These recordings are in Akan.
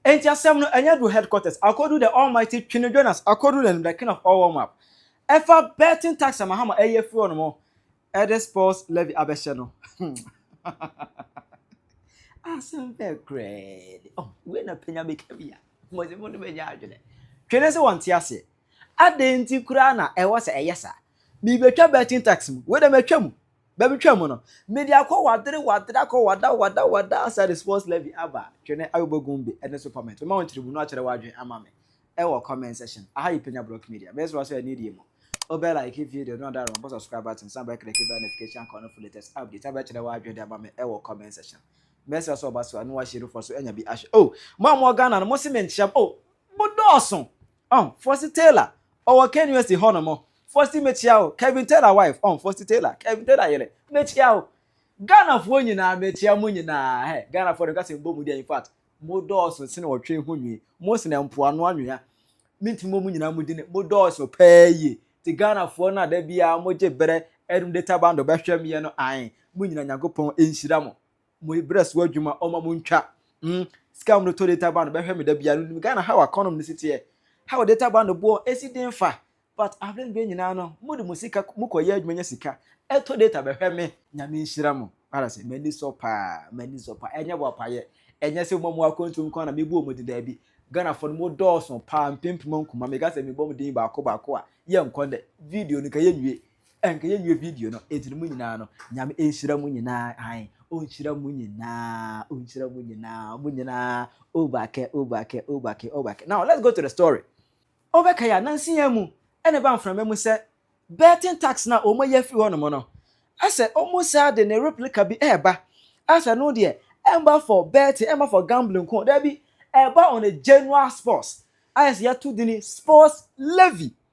Enti asɛm no ɛnyɛ do headquarters akodu the almighty Twene Jonas akodu the the king of all world map ɛfa betting tax a Mahama ɛyi afiri hɔ nom ɛde sports levy abɛhyɛ no asɛm bɛɛ korɛɛ de oh wei na panya bɛka bi a mɔdze mo no bɛnya adwene Twene sɛ wɔnte aseɛ adɛn nti koraa na ɛwɔ sɛ ɛyɛ saa Merebɛtwa betting tax mu. Wei deɛ matwa mu. Baabi twa mu no, mede akɔ wadere wadere akɔ wada wada wada asa de sports levy aba. Twene Ayobɔ Gumbi ɛne Super Met. Mema wo nkyerɛmu no akyerɛ w'adwene ama me ɛwɔ comment section. Aha yɛ Penya Block Media. Mesrɛ wo sɛ ɛne die mu. Wobɛ like video no na wada rɔbɔ subscribe button san bɛ click bell notification icon no for latest updates. San bɛkyerɛ w'adwene de ama me ɛwɔ comment section. Mesrɛ sɛ ɔba so a na wahyɛ nufoɔ so anya bi ahwɛ. Oh! Mo a mowɔ Ghana no, mose menkyerɛ mo. Oh! Modɔɔso! ɔho Fossy Taylor ɔwɔ Kane West hɔ nom Fossy mekyia wo Kevin Taylor wife ɔho Fossy Taylor Kevin Taylor yere mekyia wo Ghana foɔ nyinaa mekyia mo nyinaa hɛ Ghana foɔ de kasa mbɔ mu deɛ in fact mo dɔɔso sene ɔtwe ho nwi mo sene mpoano anwea mentumi mo mo nyinaa mo dini mo dɔɔso paa yie ti Ghana foɔ no a da biara mo gye berɛ ɛdum de tabando bɛhwɛ meɛ no ae mo nyinaa Nyankopɔn nhyira mo mo brɛ so adwuma ɔma mo ntwa mm sika wɔn de tɔ data band bɛhwɛ me da bia no nim Ghana how akɔnom ne si teɛ how data band boɔ esi den fa but abere no bɛ nyinaa no mo de mo sika mo kɔ yɛ adwuma nya sika ɛtɔ data bɛhwɛ me nyame nhyira mo para sɛ m'ani sɔ paa m'ani sɔ paa ɛnyɛ bɔ apayɛ ɛnyɛ sɛ mo mo akɔntu mu kwan na mebu wɔn de daabi Ghana fo no mo dɔɔso paa mpempem nkoma meka sɛ mebɔ mo din baako baako a yɛ nkɔ dɛ video no ka yɛ nwie Ɛnka yɛ wie video no ɛtiri mu nyinaa no nyame ɛnhyira mu nyinaa ae ɔnhyira mu nyinaa ɔnhyira mu nyinaa mu nyinaa obake obake obake obake now let's go to the story ɔbɛka yɛ nansi yɛn mu ɛna ɛba mframa mu sɛ betting tax na ɔmo yɛ firi hɔ nom no asɛ ɔmo saa de ne replica bi ɛɛba asɛ no deɛ ɛmba for betting ɛmba for gambling ko daabi ɛba on a general sports ayɛ sɛ yɛto dini sports levy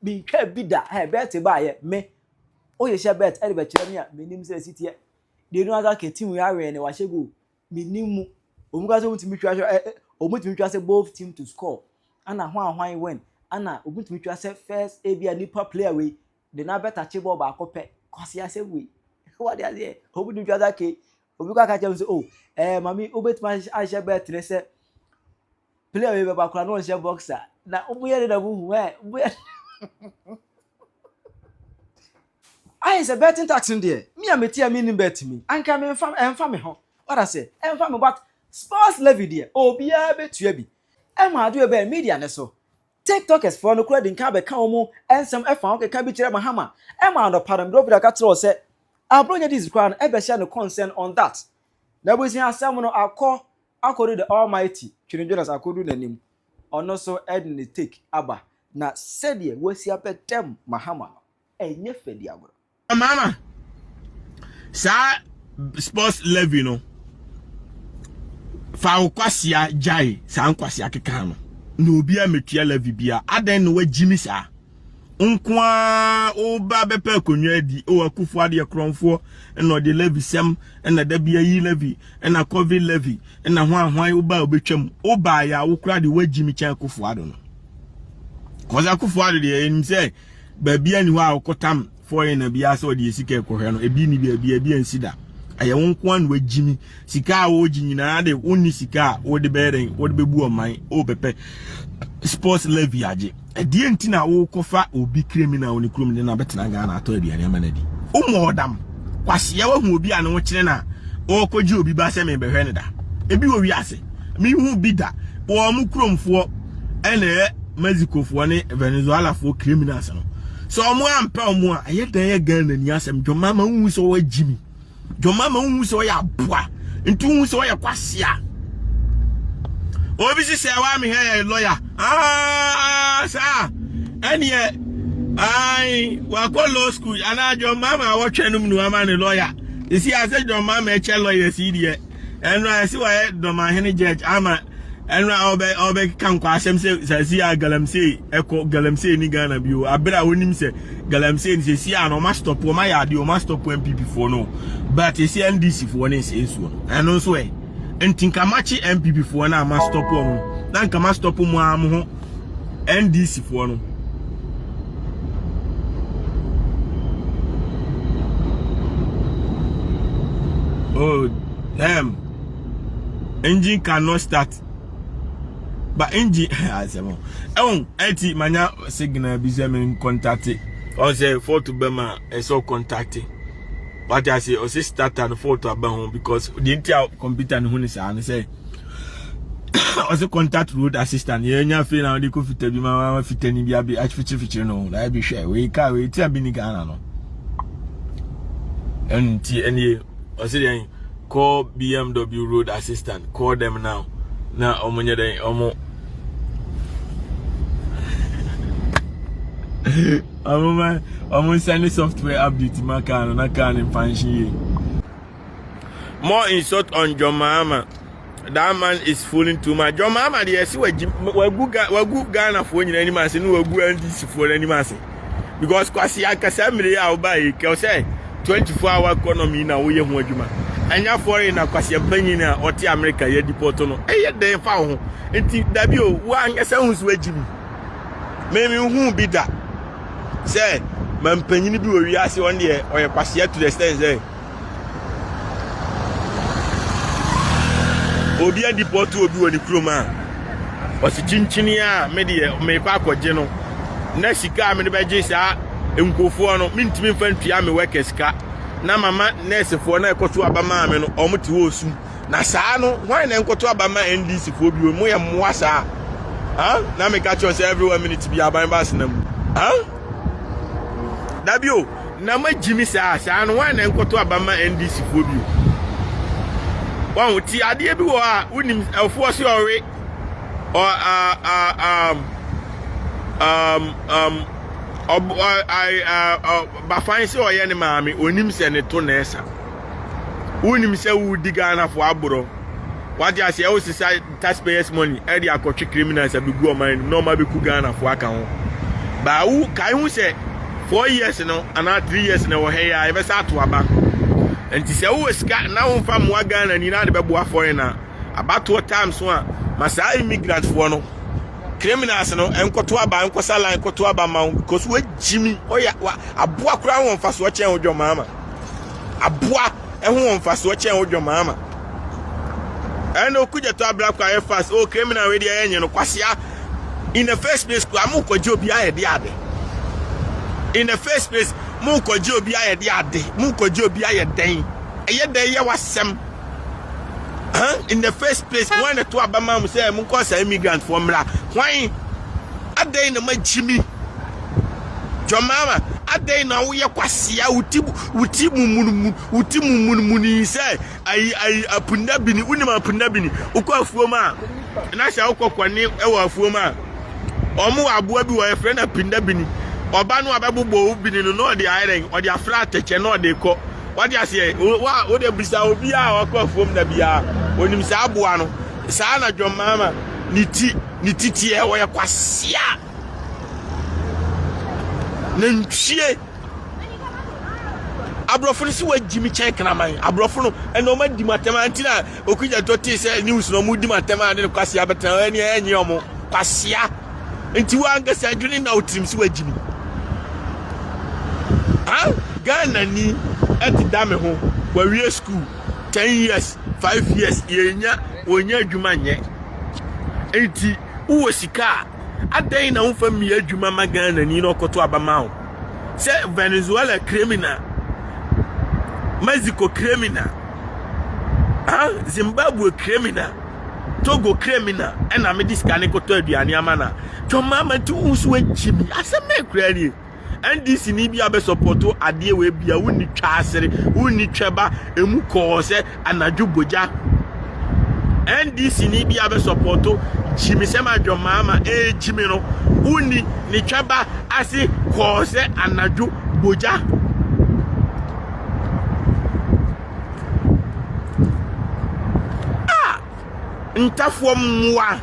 Menhwɛɛ bi da, hɛn Bert baayɛ, me, Oye hyɛ Bert dze bɛkyerɛ me a, minnyim dza esi tseɛ, dee no ankasa kɛ team yi awɛn na wɔahyɛ goal, minnyim mu, ɔwɔ mu koraa sɛ wontumi twa sɛ ɛ, ɛ, wɔtumi twa sɛ both team to score, ana hwan hwan win, ana wɔtumi twa sɛ first ebi a nipa player wei de no abɛtakye bɔɔl baako pɛ, Kwasi asɛm wei, wate aseɛ, wɔtumi twa sɛ okay, obi koraa ka kyerɛ me sɛ oh, ɛɛ, mame wobɛtumi ahyɛ Bert ne sɛ, Player wei bɛba koraa na ɔnhyɛ boxer na ɔmo yɛ ne na mo hu ɛ ɔmo yɛ. Ayɛ sɛ betting tax no deɛ mi a mi ti a mi nim bet mi anka mi nfa ɛnfa mi ho what I say ɛnfa mi but sports levy deɛ obiara bɛtua bi ɛma adi o bɛyɛ media ne so tiktokers foɔ no kura di nka abɛka wɔn nsɛm ɛfa ho keka bi kyerɛ mahama ɛma anɔpa no mi de obi aka kyerɛ sɛ aburo nyɛ dis koraa no ɛbɛhyɛ no concern on that na ebusua asɛm no akɔ Akodu the Almighty twene Jonas akodu n'anim, ɔno nso de ne take aba, na sɛdeɛ wasi apɛ dɛm Mahama no, ɛnyɛ fɛ di agorɔ. Mahama, saa sports levy no, fa wo kwasea gyae saa nkwasea keka no, na obiara mɛtua levy biara, adɛn na wagyimi saa? nko ara woba bɛpɛ akonnwa adi o akufo adeɛ korɔnfoɔ na ɔde levi sɛm na da bi ayi levi na covid levi na ho ahwan woba a wobɛtwam woba yɛ a wokora de woagyi me kyɛn akufo ado no kɔsa akufo ado deɛ ɛnim sɛ baabi ani hɔ a wokɔtam fɔe na bi asɛ ɔde sika ɛkɔhwɛ no ebi ni bi ebi ebi nsi da ɛyɛ wo nko ano agyimi sika a wɔregye nyinaa de wonni sika a wɔde bɛyɛ dɛn wɔde bɛbu ɔman wɔbɛpɛ sports levy agye ɛdeɛ nti na wokɔfa obi criminal ne kurom de no abɛtena ghana atɔ aduane ama no adi womɔ ɔdam kwaseɛ wahu obi a ne wo kyene no a ɔrekɔgye obi ba sɛ mebɛhwɛ no da ebi wɔ wiase mehu bi da wɔn kuromfoɔ ɛna ɛyɛ mexicofoɔ ne venezuelafoɔ criminals no Sɛ ɔmo ampɛ ɔmo a, ɛyɛ dɛn yɛ Ghana ni asɛm. John Mahama wohu sɛ ɔwɔ gyimi. John Mahama wohu sɛ ɔyɛ aboa. Nti wohu sɛ ɔyɛ kwasea. Obi si sɛ wa me hɛ yɛ lɔya. Ah, saa. Ɛneɛ, ai, wakɔ law school. Anaa John Mahama awɔtwɛ nom no ama ne lɔya. Ɛsi asɛ John Mahama ɛkyɛ lɔya si deɛ. ɛno a ɛsi wɔyɛ dɔmahene judge ama ɛno a ɔbɛ ɔbɛka nkwaasɛm sɛ sɛsi a galamsey ɛkɔ galamsey ni ghana bi o abere a onim sɛ galamsey ni sɛsi a na ɔma stop ɔma yɛ adeɛ ɔma stop npp foɔ no but ɛsi ndc foɔ ne nsɛ nsuo no ɛno nso ɛ nti nka makye npp foɔ no a ma stop ɔmo na nka ma stop mo a mo ho NDC foɔ no. Oh, damn. Engine cannot start. But engine, I said, well, oh, eti manya signal bi sɛ men contact it. Ɔ sɛ fort bɛma ɛsɛ contact it. What I say, ɔ sɛ starter no fort aba ho because the entire computer no ho ne saa no sɛ ɔsɛ contact road assistant yɛnya afei na ɔde kɔ fita bi ma ma fita ni bi abi afikyirifikyiri no na ebi hwɛ wei kaa wei ti abi ni ghana no ɛnu ti ɛnie ɔsɛ deɛ call bmw road assistant call them now na ɔmo nyɛ dɛ ɔmo ɔmo ma ɔmo nsɛn ne software update ma kaa no na kaa no mfa nhyɛ yie. More insult on John Mahama. That man is fooling too much. John Mahama deɛ ɛsi wagu wagu Ghanafoɔ nyinaa anim ase ne wagu NDCfoɔ n'anim ase. Because kwasi ankasa mmiri a ɔba yi kɛw sɛ 24 hour economy na woyɛ ho adwuma. Ɛnyɛ foreign na kwasi mpanyin a ɔte America yɛ deport no. Ɛyɛ dɛn fa wo ho. Nti dabi o wo ankasa hu so agyi mu. Mɛmi hu bi da sɛ mampanyin bi wɔ wiase ɔno deɛ ɔyɛ kwasi to the extent sɛ obi adipɔto obi wɔ ne kurom a ɔsi kyinkyini a me deɛ mekɔ akɔgye no na sika a mede bɛgye saa nkurɔfoɔ no mentumi mfa ntua me wɛkɛ sika na mama nɛɛsefoɔ na ɛkɔto aba maa me no wɔn te wɔ sum na saa no wɔn na nkɔto aba ma ndc foɔ bi wɔn yɛ mmoa saa ah na meka kyerɛ sɛ every one minute bi aban ba asena mu ah dabio. Na ma gyimi saa saa no wan na ɛnkɔto aba ma ndc foɔ bio wɔn ti adeɛ bi wɔ a wonim ɛfoɔ se ɔwe ɔ a a um, um, um, ɔb ɔ a a bafan se ɔyɛ ne maame onim sɛ ne to na ɛsa wonim sɛ wodi ghanafoɔ aborɔ wate aseɛ wosesa taxpayers money ɛde akɔtwe criminals abegu ɔman anim na ɔmo abɛku ghanafoɔ aka ho baa wo kae ho sɛ four years no anaa three years na ɛwɔ ha yi a yɛbɛsa ato aba nti sɛ wowɔ sika na womfa mmoa ghana ni na ade bɛboa foreign a abatoɔ time so a ma saa immigrant foɔ no criminals no nkɔto aba nkɔsa line kɔto aba ma wo because woagyimi ɔyɛ aboa koraa wɔ mfasoɔ kyɛn wo dwɔmaama aboa ho wɔ mfasoɔ kyɛn wo dwamaa ma ɛna okugya to abira kɔ ayɛ fast oh criminal wei deɛ ɛnyɛ no kwasia in the first place kura mo kɔgye obi ayɛ de ade in the first place mo kɔgye obi ayɛ de ade mo kɔgye obi ayɛ dɛn ɛyɛ dɛn yɛ wasɛm huh? in the first place wɔn na to abama mo sɛ mo nkɔ saa immigrant foɔ mmra wɔn adɛn na mo akyimi. John Mahama, adɛn na woyɛ kwasea a woti woti mumunmun woti mumunmun yi sɛ ayi ayi apunda bini wonim apunda bini wokɔ afuom a na sɛ wokɔ kɔne wɔ afuom a wɔn wɔ aboa bi wɔ yɛfrɛ no apunda bini ɔba no abɛbobɔ wo bini no na ɔde ayɛ dɛn ɔde afra atɛkyɛ na ɔde kɔ wade aseɛ wa wode bisa obi a ɔkɔ afuom da biara onim saa aboa no saa na John Mahama ne ti ne titiɛ wɔyɛ kwasea nantwie aborɔfo no sɛ wɔagyi me kyɛn kraman aborɔfo no ɛna wɔn adi mu atɛm a nti na okugya tɔ tee sɛ news na wɔn di mu atɛm a ne no kwasea bɛtena ɛni ɛnyɛ wɔn kwasea nti wɔn ankasa adwene na otirim sɛ wɔagyi me ha ghana ni ɛte da me ho wɔawie school ten years five years yɛnya wɔnya adwuma nyɛ nti wowɔ sika a Adɛn na womfa mmea adwuma ma Ghanani na ɔkɔto aba ma wo? Sɛ Venezuela criminal, Mexico criminal, ah, Zimbabwe criminal, Togo criminal, ɛna mede sika ne kɔtɔ aduane ama no a, twɔmmaama nti wo so agyi me. Asɛm bɛn koraa nie? ndc ni bi abɛsɔpɔto adeɛ wei bia wonni twaasere wonni twɛba ɛmu kɔɔ sɛ anadwo bogya ndc ni bi abɛsɔpɔto gyimi sɛm adwamaa ma ɛgyimi eh, no wonni ne twɛba ase kɔɔ sɛ anadwo bogya ah, ntafoɔ mmoa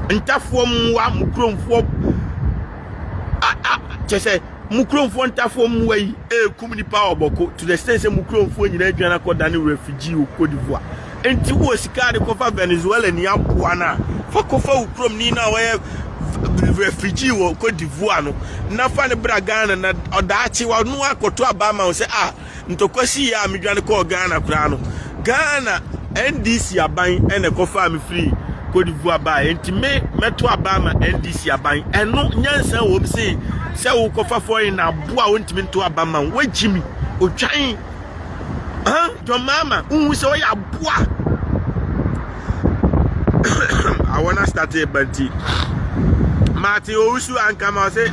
ntafoɔ mmoa mo kuromfoɔ kyerɛ sɛ mo kuromfoɔ ntafoɔ mmoa yi ɛrekum nipa ɔbɔko to the extent sɛ mo kuromfoɔ nyinaa adwane akɔda ne refugee wɔ Cote d'Ivoire nti wowɔ sika de kɔfa Venezuela ni aboa no a fa kɔfa wo kurom ni no a wɔyɛ refugee wɔ Cote d'Ivoire no na fa ne bra Ghana na ɔdaakye wɔno akɔto aba ama wo sɛ a ah, Ntɔkwa sii a medwane kɔɔ Ghana koraa no, Ghana NDC aban na ɛkɔfaa me firii Cote d'Ivoire baeɛ. Enti me mɛto aba ama NDC aban. Ɛno nyansa wom se sɛ wokɔfa foreign na aboa wontumi nto aba ma wo. Wagyi me. Otwan. Huh? John Mahama, wohu sɛ ɔyɛ aboa. awɔ no astate ba nti mate ɔresu ankama ɔse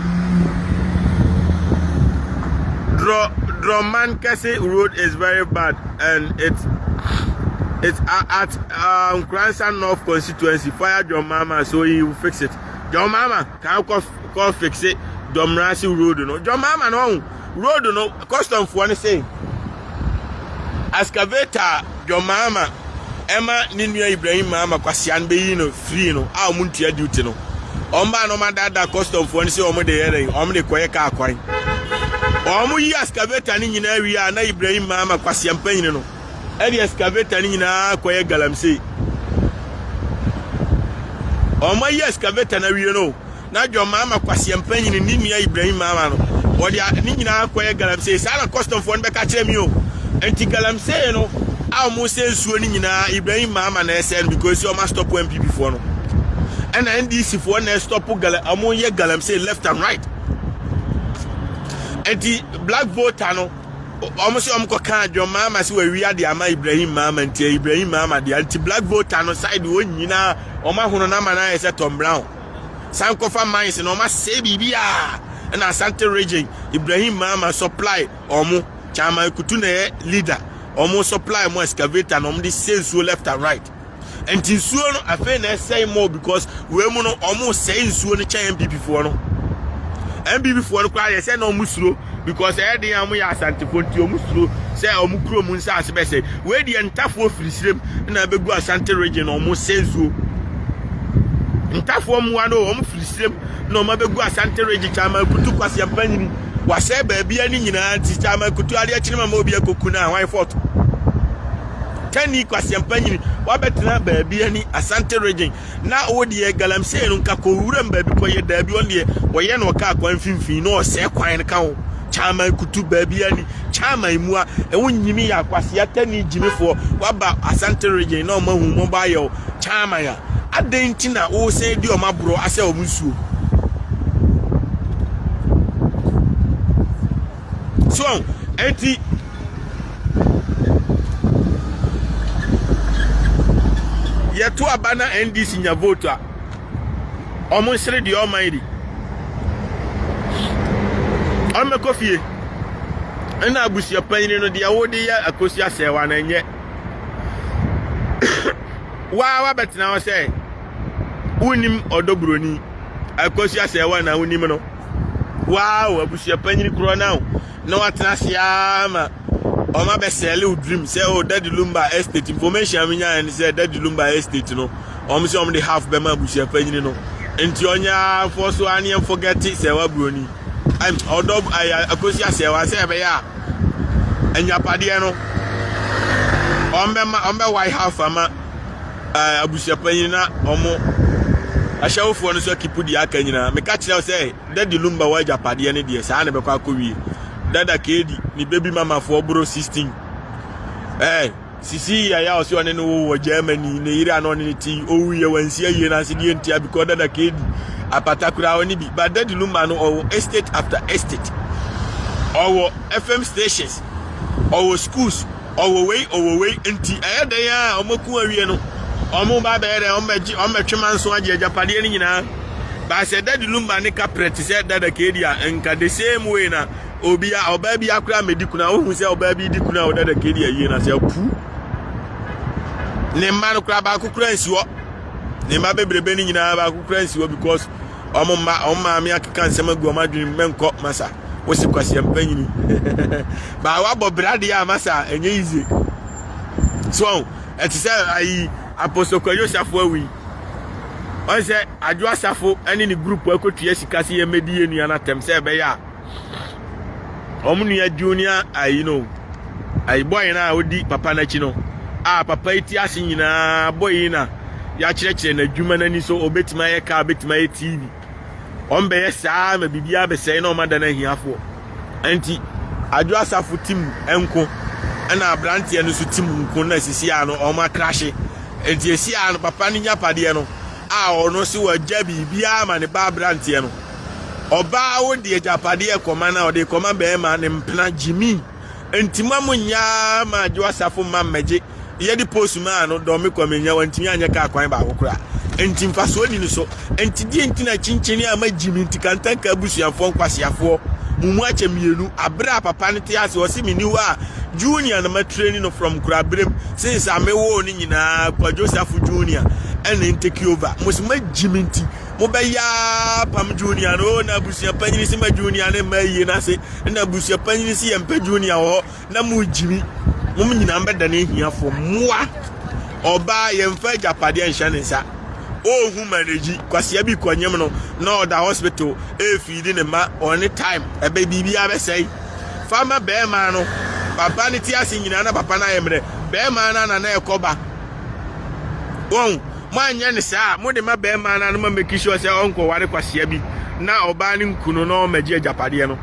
drɔ drɔman kɛse road is very bad and it's it's uh, at uh, Nkransa North constituency fire John Mama so he will fix it John Mama can kɔ kɔ fix it John Mrasi road no John Mama no ɔho Road no, kɔstɔmfoɔ no se excavator a John Mahama ɛma ne nua Ibrahim Mahama Kwasea no bɛyi no firii no a wɔn ntua duty no, wɔn baa na wɔn adaadaa kɔstɔmfoɔ no sɛ wɔn de yɛ dɛn, wɔn de kɔyɛ kaa kwan. Wɔn yi excavator no nyinaa wie a na Ibrahim Mahama Kwasea mpanyini no ɛde excavator no nyinaa kɔyɛ galamsey. Wɔn ayi excavator no awie no, na John Mahama kwaseɛ mpanyin ne nua Ibrahim Mahama no wɔde a ne nyinaa kɔyɛ galamsey saa na kɔstɔmfoɔ no bɛka kyerɛ me o nti galamsey no a wɔn sɛ nsuo no nyinaa Ibrahim Mahama na ɛsɛ no because wɔn astɔpo NPP foɔ no ɛna NDC foɔ na ɛstɔpo gala wɔn yɛ galamsey left and right nti black voter no wɔn sɛ wɔn kɔ kan John Mahama sɛ wɔawi ade ama Ibrahim Mahama nti Ibrahim Mahama deɛ nti black voter no side wɔn nyinaa wɔn ahono no ama no ayɛ sɛ Tom Brown. san kɔfa mines na ɔma sɛe biribi a ɛna asante region ibrahim mama supply ɔmo chairman kutu na ɛyɛ leader ɔmo supply mo excavator na ɔmo de sɛ nsuo left and right nti nsuo no afei na ɛsɛe more because wei mu no ɔmo sɛe nsuo no kyɛn npp foɔ no npp foɔ no koraa yɛ sɛ na ɔmo suro because ɛyɛ den a wɔyɛ asantefoɔ nti wɔn suro sɛ wɔn kurom nsaase bɛsɛ wei deɛ ntafoɔ firi srem na ɛbɛgu asante region na wɔn sɛ nsuo ntafoɔ mmoa no wɔn firi srem na wɔn abɛgu asante region kyaman kutu kwasi mpanyini wasɛ baabi ani nyinaa nti kyaman kutu adeɛ kyene ma ma obi akɔku no a hwan fɔto tani kwasi mpanyini wabɛtena baabi ani asante region Na ɔwɔ deɛ galamsey no nka kɔ wuram baabi kɔ yɛ daabi ɔno deɛ ɔyɛ na ɔka akwan mfimfini na ɔsɛe kwan no ka ho kyaman kutu baabi ani kyaman mua ɛho nyini yɛ akwasea tani gyimifoɔ waba asante region na ɔma hu mɔbɔ ayɛ wo kyaman a adɛn nti na wosan di ɔma borɔ asɛ ɔmo nsuo. So ɔn? Enti. Yɛto aba na NDC nya vote a, wɔn nsere deɛ ɔman di. Wɔmmɛkɔ fie. Ɛna abusuapanyin no deɛ wode yɛ akosi asɛewa na ɛnyɛ. Waa wabɛtena hɔ sɛ wonim ɔdɔ buroni akosi asɛewa na wonim no. Wow, abusuapanyin korɔ na o. Na watena ase ara ma wɔn abɛsɛɛle wo dream sɛ o oh, Daddy Lumba estate information a menyaeɛ ne sɛ Daddy Lumba estate no wɔn sɛ wɔn de half bɛma abusuapanyin no. Nti ɔnyɛ ara mfɔ so ara ne yɛn forget sɛ waburoni. Ɔdɔ akosi asɛ wa sɛ ɛbɛyɛ a anyapadeɛ no wɔn bɛma wɔn bɛwae half ama Ɛɛ abusuapanyin na wɔn ahyɛwofoɔ no nso akipu deɛ aka nyinaa meka kyerɛ sɛ dadi lumba wɔ agyapadeɛ no deɛ saa na ɛbɛkɔ akɔwie dada kedi ne baby mamafoɔ boro 16 ɛɛ sisi yaya ɔsɛ ɔne no wo wɔ germany ne yere a na ɔne no ti owu yɛ wansi ayie no ase deɛ ntia bikɔ dada kedi apata koraa ɔne bi ba dadi lumba no ɔwɔ estate after estate ɔwɔ fm stations ɔwɔ schools Ɔwɔ wei, ɔwɔ wei, nti ɛyɛ dɛn a wɔko awie no, wɔba bɛyɛ dɛn, wɔbɛgye, wɔbɛtwe manso agye agyapadeɛ no nyinaa. But sɛ Daddy Lumba ne ka prɛ te sɛ Dada Kedi a, nka the same way na obia, ɔbaa bi akora amɛdi kuna. Wohu sɛ ɔbaa bi di kuna wɔ Dada Kedi awie na sɛ apu. Ne mma no kora baako kora nsi hɔ. Ne mma bebrebe no nyinaa baako kora nsi hɔ because wɔn mma wɔn maame akeka nsɛm agu wɔn adwene mu mɛnkɔ masa wosi kwasi mpanyini baa wabɔ brade a masa ɛnyɛ yize so ɛte sɛ ayi apostokwa yosafo awi wɔn sɛ adwo asafo ɛne ne grupu akotua sika se yɛn mɛdi yɛn nua no atɛm sɛ ɛbɛyɛ a wɔn nua junior ayi no ayi bɔyi no a odi papa n'akyi no a papa yi ti ase nyinaa bɔyi na yɛakyerɛkyerɛ n'adwuma n'ani so obetumi ayɛ kaa obetumi ayɛ tv wɔn bɛyɛ saa ma biribi abɛsɛe na wɔn ada no ahiafoɔ nti adwo asafo tim nko ɛna aberanteɛ no nso tim nko na sisi a no wɔn akrahye nti esi a no papa no nya padeɛ no a ɔno si wɔ gya biribiara ma ne ba aberanteɛ no. Ɔbaa a odi agyapadeɛ kɔma no a ɔde kɔma bɛrima ne mpena gyimi. Nti mo a mo nyaa ma adwo asafo mma mmɛgye. Yɛde post maa no dɔn me kwame nya wantumi anyɛ kaa kwan baako kora. Nti mfasoɔ ni no so. Nti deɛ nti na kyenkyene ama gyimi nti kantanka abusuafoɔ nkwaseafoɔ mo mu akyɛ mmienu abere a papa no te ase ɔse meni hɔ a junior na ma treni no from kura berem since a mewoo no nyinaa kwadwo safo junior ɛna ntake over mo se ma gyimi nti mo bɛ ya pam junior no o na abusua panyin si ma junior ne mma yie n'ase na abusua panyin si yɛn mpɛ junior wɔ hɔ na mo gyimi mo nyinaa bɛ dane ahiafo mmoa ɔbaa yɛn fa agyapadeɛ nhyɛ ne nsa ɔhu managyi kwasia bi kɔnyem no na ɔda hospital ɛfiidi ne ma ɔne time ɛbɛ biribiara bɛsɛe fa ma bɛrima no papa no ti ase nyinaa na papa no ayɛ mmerɛ bɛrima no ana na ɛkɔba wɔn Moanyɛ no saa a, mode ma barima no anoma make sure sɛ ɔnkɔware kwasea bi na ɔbaa no nku no na ɔmmɛgye agyapadeɛ no.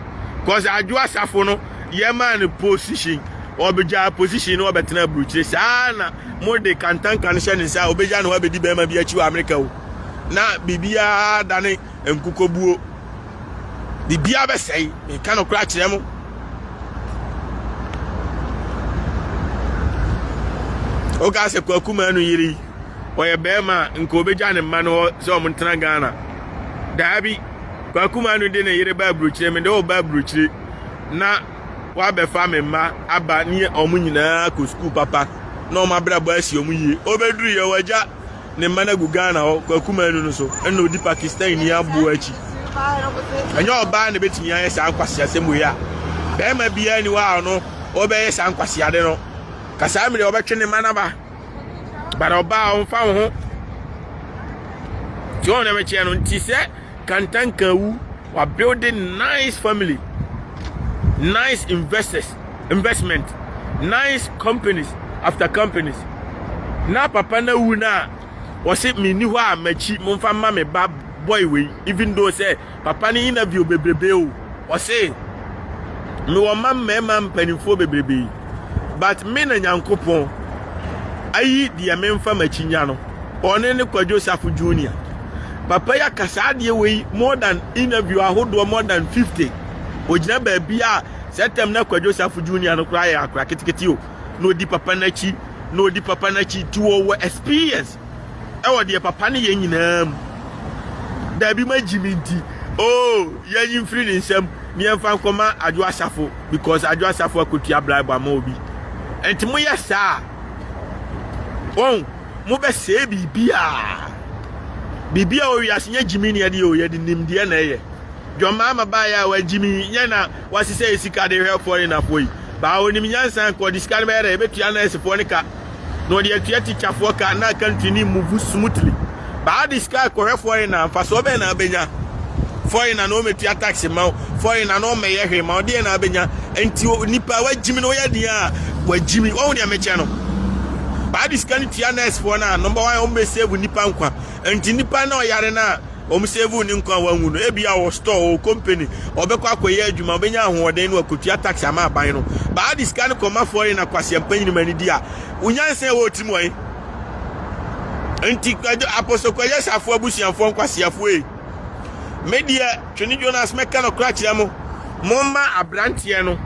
Cause Adwo Asafo no yɛmaa no position, ɔbɛgyaa position no ɔbɛtena aburukyire. Saa na mode kantanka no hyɛ ne nsa a ɔbɛgya ne hɔ abɛdi barima bi akyi wɔ Amerika o. Na biribiara dane nkokɔbuo. Biribiara bɛsɛe. Meka no koraa kyerɛ mo. Woka sɛ kwaku maa no yere yi. ɔyɛ barima a nka obegya ne mma no hɔ sɛ wɔn ntena ghana daabi kwakuma no de ne yere ba aburokyire mede wo ba aburokyire na wabɛfa me mma aba ne wɔn nyinaa kɔ sukuu papa na wɔn abrabɔ asi wɔn yie obeduru yɛ wagya ne mma no agu ghana hɔ kwakuma no no so ɛna odi pakistan ni aboɔ akyi ɛnyɛ ɔbaa na ebetumi ayɛ saa nkwasi asɛm wei a barima biara ni hɔ a ɔno ɔbɛyɛ saa nkwasi ade no kasaa mi de ɔbɛtwe ne mma n'aba. but ɔbaa ɔmfa wo ho nti wɔn na bɛkyerɛ no nti sɛ kantanka wu wa build nice family nice investors investment nice companies after companies na papa na wu na wɔsi mi ni hɔ a m'akyi mo nfa ma me ba boy wei even though sɛ. Papa no interview bebrebe o, ɔse mewɔ mma mmarima mpanimfoɔ bebrebe but me na Nyankopɔn ayi deɛ memfa m'akyi nya no, ɔne ne Kwadwo Safo Junior. Papa yi aka saa adeɛ wei more than interview ahodoɔ more than 50. Ɔgyina baabi a saa tam na Kwadwo Safo Junior no koraa yɛ akora ketekete o, na ɔdi papa no akyi, na ɔdi papa no akyi, nti ɔwɔ experience. wɔ deɛ papa ne yɛ nyinaa mu. Daabi ma gyimi nti oo yɛnyi mfiri ne nsam ne yɛmfa nkɔma adwo asafo because adwo asafo akotua bribe ama obi. Nti moyɛ saa wɔn mobɛsɛe biribi a biribi a owiase nyɛ gyimi ne yɛde yɛ o yɛde nimdeɛ na ɛyɛ. Dwammaa ma baayɛ a wagyimi nyɛ na wasesɛ yɛ sika de hwɛ foreign afoɔ yi. Baa onim nyansa nka ɔde sika no bɛyɛ dɛ ebetua nɛɛsefoɔ ne ka. na ɔde atua tikyafoɔ ka na country ne move smoothly baa de sika kɔhwɛ foreigner mfasoɔ bɛn na abɛnya foreigner na ɔmɛtua tax ma wo foreigner na ɔmɛyɛ hwee ma wo deɛ na abɛnya nti nipa wagyimi na ɔyɛ deɛ a wagyimi wɔn deɛ mɛkyɛ no baa de sika no tua nursefoɔ no a number one ɔmɛsave nipa nkwa nti nipa na ɔyare no a wɔn save ne nkwa a wɔanwu no. Ebia ɔwɔ store, ɔwɔ company, ɔbɛkɔ akɔyɛ adwuma, ɔbɛnya ahoɔden na wakotua tax ama aban no. Baa de sika no kɔma foreign na kwaseampa nyini ma nidi a, wonyansa a ɛwɔ tirim wɔn. Nti kwadwo apostle kwadwo safo abusuafoɔ nkwaseafoɔ yi. Me deɛ twene Jonas mɛka no kora kyerɛ mo. Momma aberanteɛ no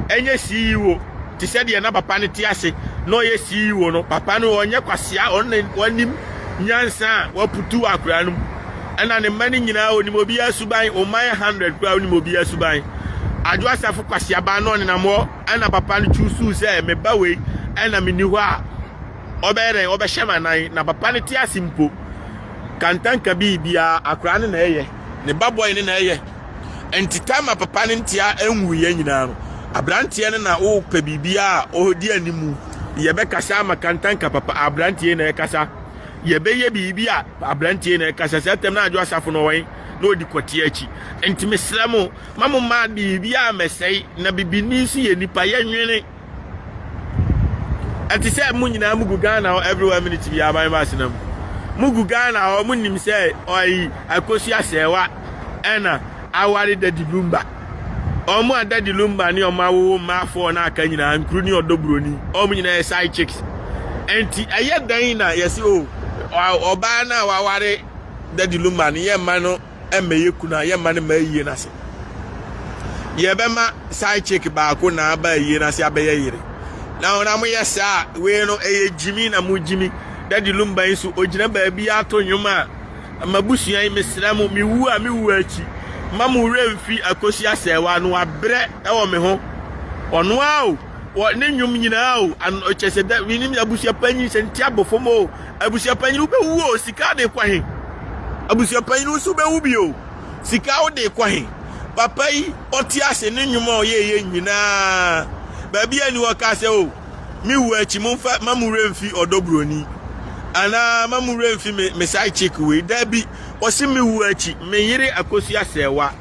nyɛ CEO te sɛ deɛ na papa no te ase na ɔyɛ CEO no. Papa no ɔnyɛ kwasea, ɔne wanim nyansa a waputu wɔ akwadaa no mu. Ɛna ne mma no nyinaa ɔnim obiara suban, wɔn mma yɛ hundred koraa ɔnim obiara suban. Adwo Asafo kwasea baa na ɔnenam hɔ ɛna papa no kyuusuu sɛ me ba wei ɛna menni hɔ a ɔbɛyɛ dɛn ɔbɛhyɛ m'anan na papa no te ase mpo. Kantanka bi biara akwadaa no na ɛyɛ, ne ba bɔe no na ɛyɛ. Enti Tamar papa ne ntea nwuiɛ nyinaa no, aberanteɛ no na wopɛ biribiara a ɔdi anim. Yɛbɛkasa ama kantanka papa, aberanteɛ na ɛkasa. Yɛbɛyɛ biribi a, aberanteɛ na ɛkasa. Saa tam na adwo asafo no wɔn na ɔdi kɔteɛ akyi. Enti mesrɛ mo, ma mo mmaa biribiara mɛsɛe, na bibini nso yɛ nipa, yɛnwene. ɛte sɛ mo nyinaa mo gu ghana hɔ everywhere minute bi aban ba asena mu mo gu ghana hɔ mo nim sɛ ɔyi akosi asɛɛwa ɛna aware dadi lumba ɔmo a dadi lumba ne ɔmo awowo mmaa afɔɔ na aka nyinaa nkuru ne ɔdɔ buroni ɔmo nyinaa yɛ side chicks nti ɛyɛ dan na yɛsi o ɔbaa na waware dadi lumba ne yɛ mma no. mmɛyɛ kunu a yɛmma no ma ayie no ase yɛbɛma side chick baako na aba ayie no ase abɛyɛ yere na ɔna moyɛ saa wei no ɛyɛ gyimi na mo gyimi dadi lumba yi so ogyina baabi ato nnwom a mabusua yi mesrɛ mo mewu a mewu akyi ma mo werɛ mfi akosi asɛewa no abrɛ ɛwɔ me ho ɔno a o wɔ ne nnwom nyinaa o an ɔkyɛ sɛ dɛ menim abusuapanyin sɛ nti abofo mo o abusuapanyin wobɛwu o sika de kɔ he abusuapanyin nso wobɛwu bi o sika wode kɔ he papa yi ɔte ase ne nnwom a ɔyɛɛyɛ nyinaa baabi a ni ɔka sɛ o me wu akyi momfa ma mo werɛ mfi ɔdɔ buroni anaa ma mo werɛ mfi me me side chick wei da bi ɔse me wu akyi me yere akosua sɛwa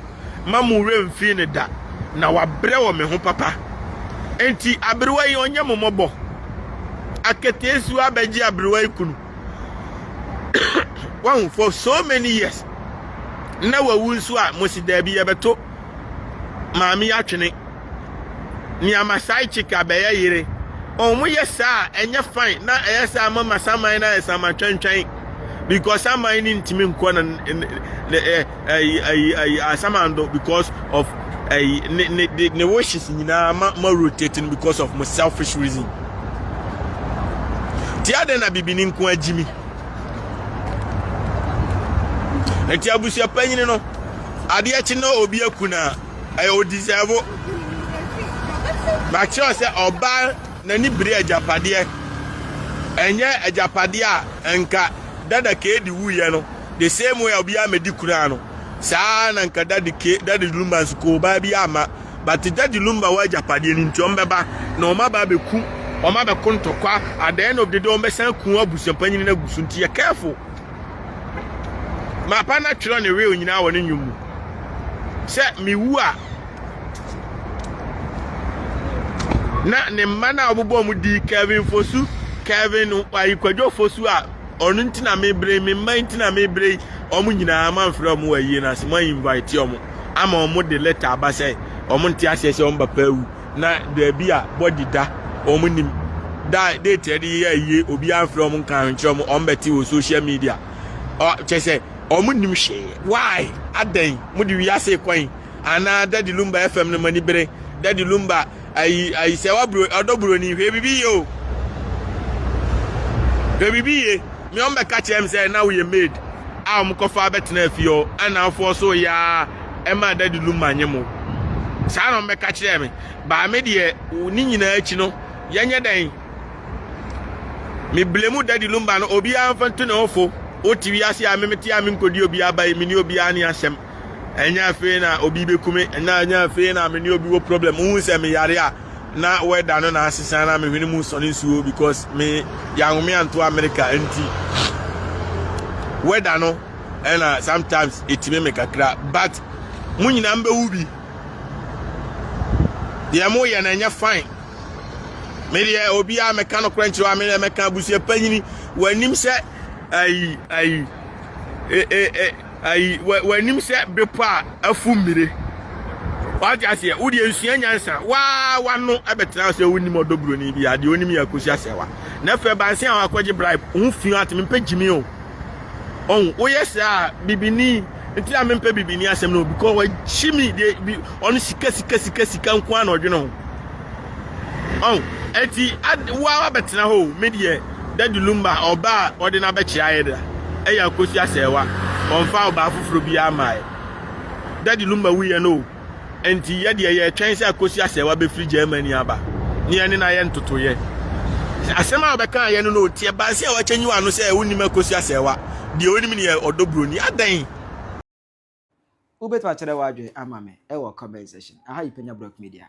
mma mo werɛ mfii no da, na wabrɛ wɔ me ho papa. Enti aberewa yi ɔnyɛ mo mmɔbɔ. Aketeesiwa bɛgye aberewa yi kunu. Wahu for so many years. Na wawu nso a mo si daabi yɛbɛto maame atwene. Nea ma side chick a bɛyɛ yere. Wɔn yɛ saa ɛnyɛ fine na ɛyɛ saa ma ma saman na ɛyɛ saman twɛntwɛn because saman ni ntumi nkɔ na ɛyi ɛyi ɛyi asamando because of ɛyi ne ne ne ne wishes nyinaa ma ma rotate no because of mo selfish reason ti adɛn na bibini nko agyi mi nti abusua panyin no adeɛ kyi na obi aku na ɛyɛ odisɛvo makyerɛ sɛ ɔbaa n'ani bere agyapadeɛ ɛnyɛ agyapadeɛ a nka dada keedi wuyɛ no The same way a obiara medi kunu ano saa ara na nka dadi ke dadi lumba nso koo baa bi ama but dadi lumba wɔ agyapadeɛ no nti wɔn bɛba na wɔn aba abɛku wɔn abɛko ntɔkwa at the end of the day wɔn bɛsan ku abusuapanyin no agu so nti yɛ careful mapa na twerɛ ne will nyinaa wɔ ne nnwom mu sɛ mewu a na ne mma no a wɔbobɔ mu di Kevin Fosu Kevin ayikwadwo Fosu a ɔno nti na mebrɛ yi me mma nti na mebrɛ yi wɔn nyinaa moamfrɛ wɔn wɔ ayie no ase moainvite wɔn ama wɔn de lɛta aba sɛ wɔn nte aseɛ sɛ wɔn papa awu na daabi a bɔdi da wɔn nim da date ɛde yɛ ayie obi amfrɛ wɔn nka ahwenkyerɛ wɔn wɔn bɛte wɔ social media kyɛ sɛ wɔn nim hwee why adɛn mo de wiase kwan anaa dadi lumba fm no mo ani bere dadi lumba ayi ayi sɛ waburo ɔdɔ buroni hwɛ bibi yie o hwɛ bibi yie mi ɔn bɛka kyerɛ mi sɛ na woyɛ maid a wɔn kɔfa abɛtena afie hɔ ɛna afoɔ so yaa ɛma adadi lu ma nye mo saa na wɔn bɛka kyerɛ mi baame deɛ ne nyinaa akyi no yɛnyɛ dɛn mi bile mu dadi lu mba no obiara nfa ntu ne ho fo wote wiase a mi mi te a mi nkodi obiara ba yi mi ni obiara ni asɛm. ɛnyɛ afei na obi bɛkume ɛnyɛ ɛnyɛ afei na me ne obi wɔ problem wohu sɛ meyare a na wɛda no na asesa na mehwene mu sɔne nsuo because me yɛahome anto amerika nti wɛda no ɛna sometimes ɛtumi me kakra but mo nyinaa mbɛwu bi deɛ moyɛ no ɛnyɛ fine medeɛ obiaa mɛka nokorɛ nkyerɛ a medeɛ mɛka abusua panyini wɔanim sɛ ayi ayi e, e, e, ayi w'anim sɛ bepɔ a afu mmire wate aseɛ wo deɛ nsua nyansa waa wano ɛbɛtena sɛ wonim ɔdɔ buroni bi adeɛ onim yɛ akosi asɛwa na fɛ banse a wakɔgye bribe ho fi ate mempɛ gyimi o ɔn woyɛ saa bibini nti a mempɛ bibini asɛm no because wagyimi deɛ ɔno sika sika sika sika nko a na ɔdwene ho Oh, eti ad, wo ara bɛtena hɔ o, me deɛ, Daddy Lumba, ɔba a ɔde no abɛkyerɛ ayɛ da, ɛyɛ Akosi Asɛɛwa, ɔmfaa ɔbaa foforɔ biara mmaeɛ. Daddy Lumba wuiɛ no o, enti yɛ deɛ yɛretwɛn sɛ Akosi Asɛɛwa bɛfiri Germany aba, na yɛne no ayɛ ntotoeɛ. Asɛm a ɔbɛkaeɛ no na ɔteɛ bansi a wakyɛnyi w'ano sɛ wonnim Akosi Asɛɛwa, deɛ ɔnim no yɛ ɔdɔ buroni, adɛn? Wobɛtumi akyerɛ w'adwene ama me wɔ comment section, aha yi Panya Brock Media.